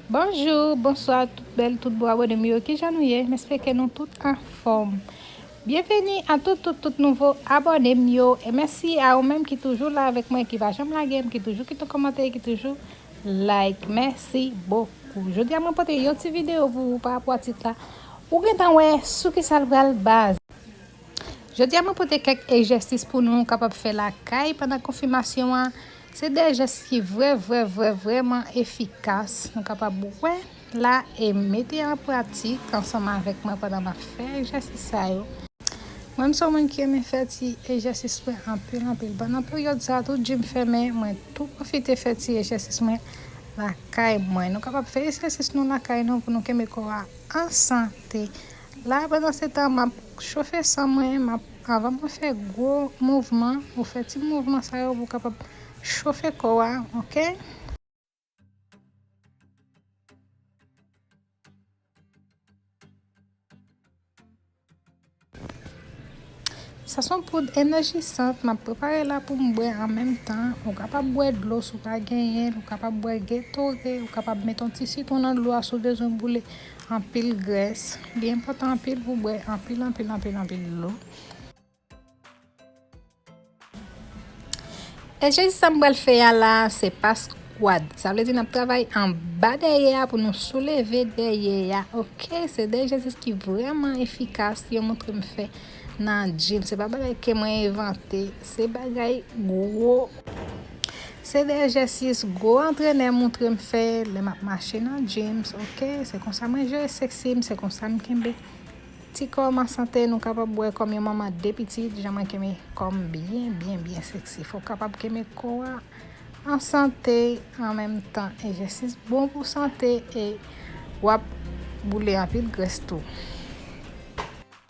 Bonjou, bonswa tout bèl, tout bo abone m yo, kijan nou ye? M espeke nou tout anfòm. Byenveni a tout tout tout nouvo abone m yo e mèsi a ou menm ki toujou la avèk mwen, ki pa janm lage m, ki toujou kite kòmantè, ki toujou like. Mèsi bokou. Jodi a mwen pote yon ti videyo pou ou pa rapò a tit la. Ou gentan wè sou kisa l pral baze. Jodi a mwen pote kèk ejèsis pou nou kapab fè lakay pandan konfimasyon an. Se de jès ki vrè vrè vrè vrèman efikas nou kapab wè la e mete an pratik ansanm avèk mwen pandan m ap fè egzèsis sa yo. Mwen m se yon moun ki renmen fè ti egzèsis mwen anpil anpil. Pandan peryòd sa tout jim fèmen mwen tou pwofite fè ti egzèsis mwen lakay mwen. Nou kapab fè egzèsis nou lakay nou pou nou kenbe kò a an sante. La pandan se tan map chofe san mwen map avan mwen fè gwo mouvman ou fè ti mouvman sa yo pou kapab chofe kò a ok. Sa son poud enèjisant map prepare la poum bwè an menm tan ou kapab bwè dlo si w pa genyen ou kapab bwè getore ou kapab met yon ti sitwon nan dlo a si w bezwen boule Anpil grès. Li enpòtan anpil pou w bwè anpil anpil anpil anpil dlo. Egzèsis sa m pral fè a la a se pas kwad. Sa vle di n ap travay anba dèyè a pou nou souleve dèyè a ok. Se de egzèsis ki vrèman efikas yo montre m fè. Nan Jim se pa bagay ke mwen envante se bagay gwo se de egzèsis gwo antrenè moutre m fè lè map mache nan Jim ok se konsa mwen jere sexy m se konsa m kenbe ti kò m an sante nou kapab wè kòm yon manman ak 2 pitit jan mwen kenbe kò m byen byen byen sexy fòk kapab kenbe kò a an sante an menm tan egzèsis bon pou sante e wap boule anpil grès tou.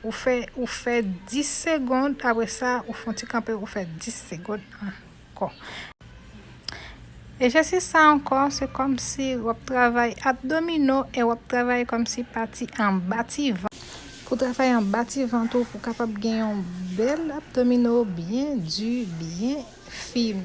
Ou fè ou fè 10 segond apre sa ou fon ti kanpe ou fè 10 segond ankò. Ejesis sa ankò se kòmsi wap travay abdomino e wap travay kòmsi pati anba ti vant. Pou travay anba ti vant ou pou kapab gen yon bèl abdomino byen di byen fim.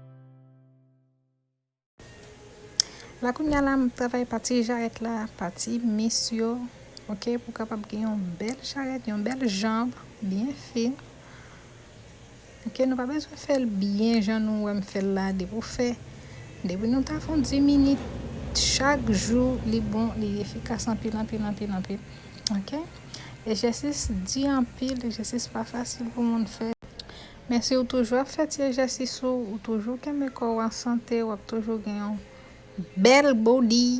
La kounya la m travay pati jarèt la, pati mis yo, ok, pou kapab gen yon bèl jarèt, yon bèl janb, byen fin. Ok, nou pa bezwen fè l byen jan nou wè m fè l la, depi ou fè, depi nou ta fè yon 10 minit chak jou, li bon, li efikas anpil, anpil, anpil, anpil, ok. Ejèsis di anpil, ejèsis pa fasil pou moun fè. Men si w toujou ap fè ti ejèsis ou, ou toujou kenbe kò w an sante, w ap toujou gen yon bèl body.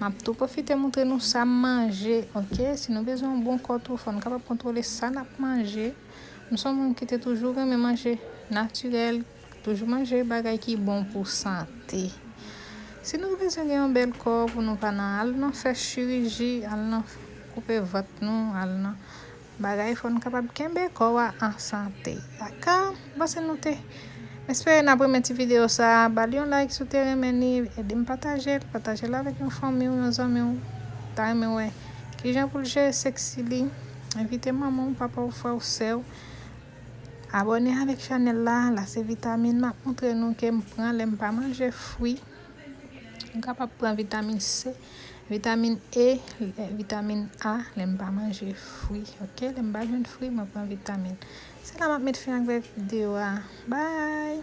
Map tou pwofite moutre nou sam manje ok si nou bezwen yon bon kò tou fòn kapab kontwole sa nap manje m son moun kite toujou renmen manje natirèl toujou manje bagay ki bon pou sante si nou bezwen gen yon bèl kò pou nou pa nan al nan fè chiriji al nan koupe vant nou al nan Bagay fò n kapab kenbe kò a an sante ak panse nou te espere nap renmen ti video sa bal yon like si w te renmen li ede m pataje l pataje l avèk yon fanmi w yon zanmi w ta renmen wè kijan pou l jere sexy li envite manman w papa w frè w sè w abòne avèk chanèl la la se vitamin map moutre nou ke m pran lè m pa manje fwi m kapab pran vitamin se. Vitamin E, vitamin A lè m pa manje fwi ok lè m pa jwenn fwi mwen pran vitamin se la map met fen ak vèv video a bye.